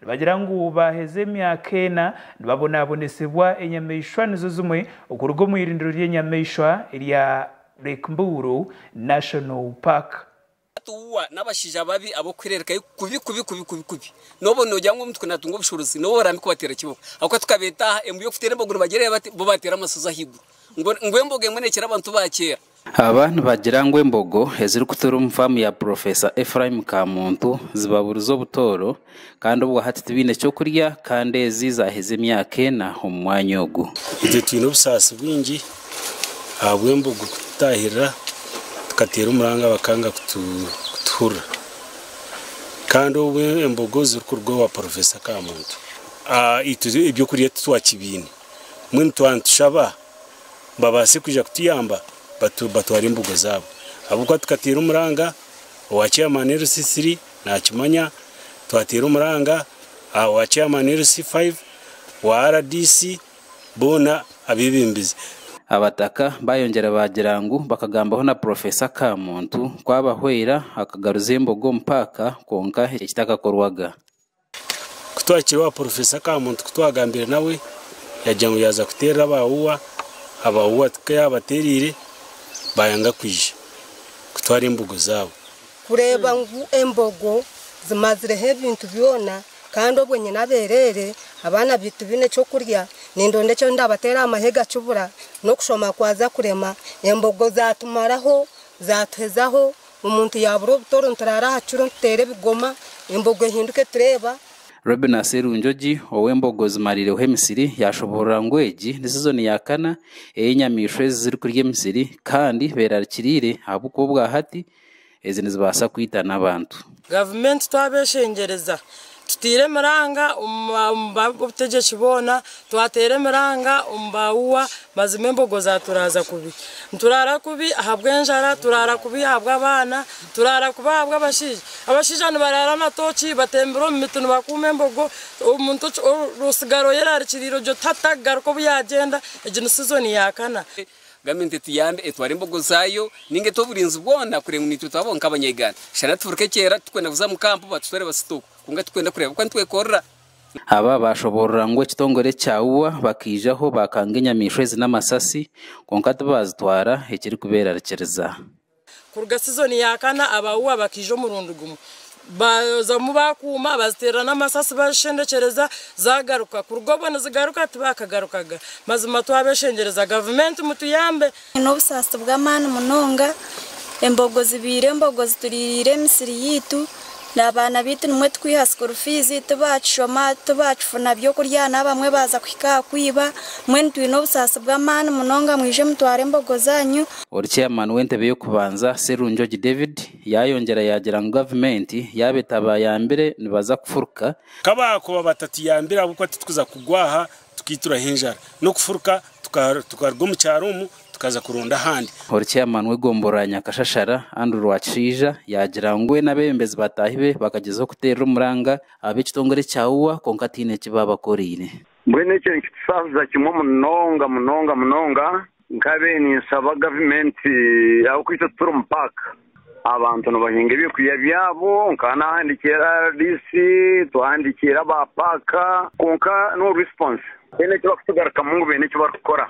Nibagira ngu baaheza emyaka ena nibabonaabonesibwa enyamaishwa nizo zimwe okuruga omu irindiro ry'enyamaishwa erya Lake Mburu National Park. Hati uwa n'abashaija ababi ab'okuhirereka i kubi kubi kubi kubi kubi n'obu noogira ngu omuntu naatunga obushorozi n'obu oraambe kubateera kiboko ahabw'okuba tukabeeta aha embu y'okuteera embogo nibagira bati bo baateera amashozi ahaiguru ngu ngu embogo emwe neekira abantu ba kyeera. Aba nibagira ngu embogo ezirikutuura omu faamu ya Purofesa Ephraim Kamuntu zibaburiza obutooro kandi obwa hati tibaine ky'okurya kandi ezi zaaheza emyaka ena omu mwanya ogu. Itwe twine obusaasi bwingi ahabw'embogo kututaahirira tukateera omuranga bakanga kutuhurira kandi obu embogo zirikuruga owa Purofesa Kamuntu itwe eby'okurya titwakibiine mbwenu twaba nitushaba babaase kwija kutuyamba batware embugo zaabo ahabw'okuba tukateera omuranga owa chairman LC 3 naakimanya, twateera omuranga aha wa chairman LC 5, wa RDC boona abeebembezi. Abataka baayongyera baagira ngu bakagambaho na Professor Kamuntu ku abahwera akagaruza embogo omu paaka kwonka ekyo tikikakorwaga. Ku twahikire owa porofesa ka muntu ku twagambire nawe yagira ngu yaaza kuteerera aba UWA, aba UWA ku yaabateereire baayanga kwija kutwara embogo zaabo. Kureeba ngu embogo zimazireho ebintu byona kandi obwe nyine abeereere, abaana baitu baine eky'okurya, nindonda eki ndaabateera aha mahega kibura, n'okushoma kwaza kurema, embogo zaatumaraho, zaatuhezaho, Omuntu yaabura obutoro nituraara aha kiro nituteera ebigoma, embogo ehinduke tureeba. Reuben Aserunjogi ow'embogo zimariireho emisiri yaashoboorora ngu egi ni sizoni ya kana ey'enyamaishwa ezi zirikurya emisiri kandi beerarikiriire ahabw'okuba obwahati ezi nizibaasa kwita n'abantu. Gavumenti twaba eshengyereza Tutaire emiranga omu ba b'obutegyeki boona, twateera emiranga omu ba uwa, mazima embogo zaaturaaza kubi. Nituraara kubi ahabw'enjara, turaara kubi ahabw'abaana, turaara kubi ahabw'abashaija. Abashaija nibaraara na tooki batembire omu miti nibakuuma embogo. Omuntu otsigara oyerarikiriire ogye oti hati takugaruka obu yaagyenda, egi ni sizoni ya kana. Gavumenti etuyambe etware embogo zaayo ninga ete oburinzi bwona kureba ngu niitwe twabaho nk'abanya-Uganda. Shana tufuruka ekyera turikwenda kuza mu kampu batutware Basitooku kwonka turikwenda kureba oku nitwekorera. Aba baashoboorora ngu ekitongore kya ua bakaijaho baakanga enyamaishwa ezi n'amasasi kwonka tibaazitwara ekirikubeerarikiriza. Kuruga sizoni ya kana Abaua bakaija omurundi gumwe. Bazamu baakuuma, baziteerera n'amasasi bazishendekyereza, zaagaruka. Kuruga obwo nizigaruka tibaakagarukaga. Mazima twabeshengyereza. Gavumenti mutuyambe. Twine obusaasi bw'amaani munonga. Embogo zibaire embogo zituriiriire emisiri yaitu. N'abaana baitu nimwo tukwiha school fees, tibakishoma, tibakifuna by'okurya n'aha bamwe baaza kuhika aha kwiba. Mbwenu twine obusaasi bw'amaani munonga mwije mutware embogo zaanyu. Ori chairman w'entebe y'okubanza, Serunjogi David, yaayongyera yaagira ngu gavumenti yaaba etaabayambire nibaza kufuruka. Ka baakuba batatuyambire ahabw'okuba titukuza kugwa aha Tukaituraho enjara n'okufuruka tukaruga omu kyaro omu tukaza kuronda ahandi. Ori Chairman w'egombora ya Nyakashashara, Andrew Rwakishaija yaagira ngu we n'abeebembezi bataahi be bakagyezaho kuteerera omuranga ab'ekitongore ekya UWA kwonka tihaine eki baabakoreire. Mbwenu ekyo nikitusaasiza kimwe munonga munonga munonga Nkabiire ninsaba gavumenti ahabw'okuba itwe tituri omu paaka, abantu nibahinga ebyokurya byabo nkaba naahandiikire rdc, twahandiikire aba paaka kwonka no risiponsi tihaine eki barikutugarukamu ngu baine eki barikukora.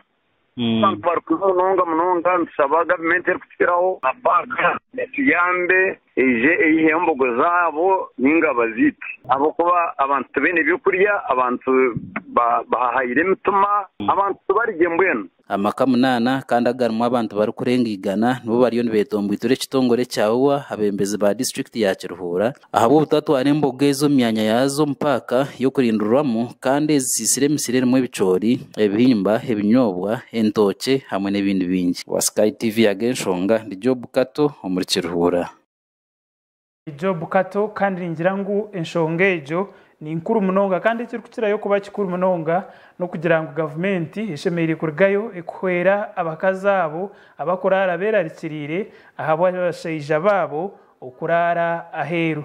Abantu barikwiha munonga munonga, nitushaba gavumenti erikutukiraho, aba paaka etuyambe. Eije eihe embogo zaabo nainga baziite. Ahabw'okuba abantu tibaine by'okurya, abantu bahahaire emitima, abantu tibarigye mbwenu. Amaka munaana kandi agarimu abantu barikurenga igana nibo bariyo nibeetombwitura ekitongore kya ua abeembezi ba disiturikiti ya Kiruhuura ahabw'obutatwara embogo ezi omu myanya yaazo omu paaka y'okurindirwamu kandi ezisiisire emisiri erimu ebicoori ebihimba, ebinyoobwa, entookye hamwe n'ebindi bingi. Wa Sky TV yaga enshonga ndi Job Kato omuri Kiruhura. Ndi Job Kato kandi ningira ngu enshonga egyo ni nkuru munonga kandi ekirikukirayo kuba kikuru munonga n'okugira ngu gavumenti eshemereire kurigayo ekuhwera abakazi abo abakuraara beerarikiriire ahabw'abashaija baabo okuraara aheeru.